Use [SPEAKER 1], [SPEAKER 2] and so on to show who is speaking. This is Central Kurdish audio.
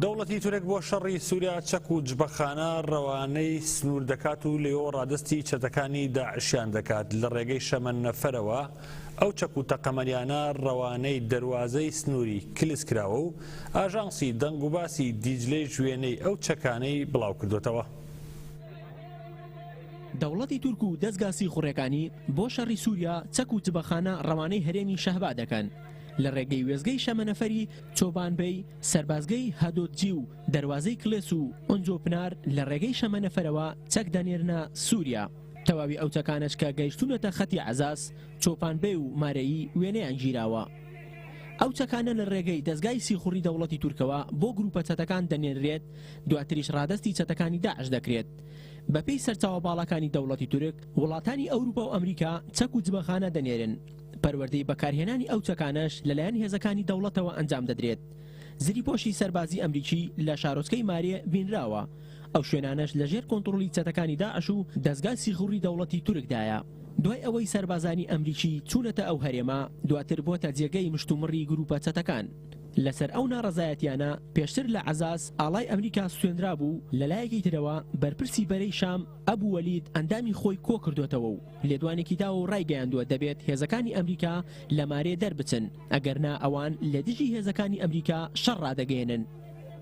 [SPEAKER 1] دەوڵەتی تورک بۆ شەڕی سووریا چەک و جبەخانە ڕەوانەی سنوور دەکات و لێۆ ڕادستی چەتەکانی داعشیان دەکات لە ڕێگەی شەمەند نەفەرەوە ئەو چەک و تەقەمەنیانە ڕەوانەی دەواازەی سنووری کلس کراوە و ئاژانسی دەنگ و باسی دیجلەی ژوێنەی ئەو چەکانەی بڵاو کردوتەوە.
[SPEAKER 2] دەوڵەتی تورک و دەزگا سیخوڕەکانی بۆ شەڕی سووریا چەک و جبەخانە ڕەوانەی هەرێمی شەهبا دەکەن، لە ڕێگەی وێستگەی شەمەنەفەری چۆبانبەی، سەربازگەی هەدۆدجی و دەروازەی کڵێس و ئۆنجۆ پنار لە ڕێگەی شەمەنەفەرەوە چەک دەنێرنە سووریا. تەواوی ئەو چەکانەش کە گەیشتوونەتە خەتی عەزاز، چۆپانبەی و مارەیی وێنەیان گیراوە. ئەو چەکانە لە ڕێگەی دەزگای سیخوڕی دەوڵەتی تورکەوە بۆ گرووپە چەتەکان دەنێررێت، دواتریش ڕادەستی چەتەکانی داعش دەکرێت. بەپێی سەرچاوە باڵاکانی دەوڵەتی تورک، وڵاتانی ئەوروپا و ئەمریکا چەک و جبەخانە دەنێرن. پەروەردەی بەکارهێنانی ئەو چەکانەش لەلایەن هێزەکانی دەوڵەتەوە ئەنجام دەدرێت. زریپۆشی سەربازی ئەمریکی لە شارۆچکەی مارێ بینراوە، ئەو شوێنانەش لەژێر کۆنتڕۆڵی چەتەکانی داعش و دەزگای سیخوڕی دەوڵەتی تورکدایە. دوای ئەوەی سەربازانی ئەمریکی چوونەتە ئەو هەرێمە، دواتر بۆتە جێگەی مشتومڕی گروپە چەتەکان. لەسەر ئەو ناڕەزایەتیانە پێشتر لە عەزاز ئاڵای ئەمریکا سوتێنرابوو و لەلایەکی ترەوە بەرپرسی بەرەی شام ئەبو وەلید ئەندامی خۆی کۆکردۆتەوە و لێدوانێکی داوە و ڕایگەیاندووە دەبێت هێزەکانی ئەمریکا لە مارێ دەربچن، ئەگەرنا ئەوان لە دژی هێزەکانی ئەمریکا شەڕ ڕادەگەیەنن.